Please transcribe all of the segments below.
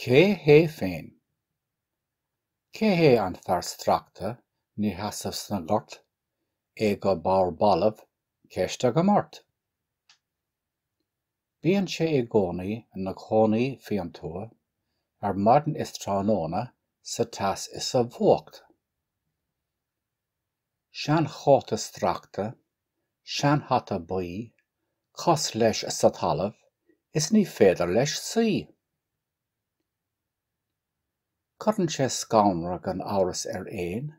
Cé hé féin? Cé hé an fear stractha ina sheasamh sa ngort, é go bodhar balbh, ceist agam ort? Bíonn sé i gcónaí ina chónaí faoin tuath, ar maidin is tráthnóna, sa teas is sa bhfuacht. seanchóta stracta, seanhata buí, cos leis sa talamh is ní féidir leis suí. Cuireann sé scanradh gan amhras ar éin,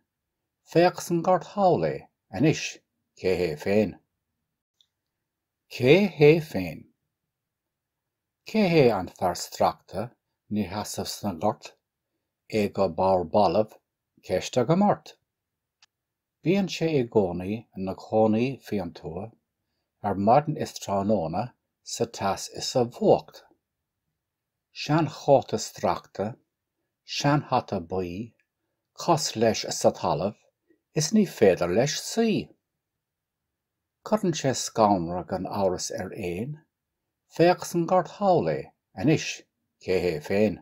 féach sa ngort thall é, anois, cé hé féin? Cé hé féin? Cé hé an fear stracta, ina sheasamh sa ngort, é go bodhar balbh Ceist agam ort. Bíonn sé i gcónaí ina chónaí faoin tuath, ar maidin is tráthnóna, sa teas is sa bhfuacht. Seanchóta stracta, seanhata buí, cos leis sa talamh, is ní féidir leis suí. Cuireann sé scanradh gan amhras ar éin, féach sa ngort thall é, anois, cé hé féin.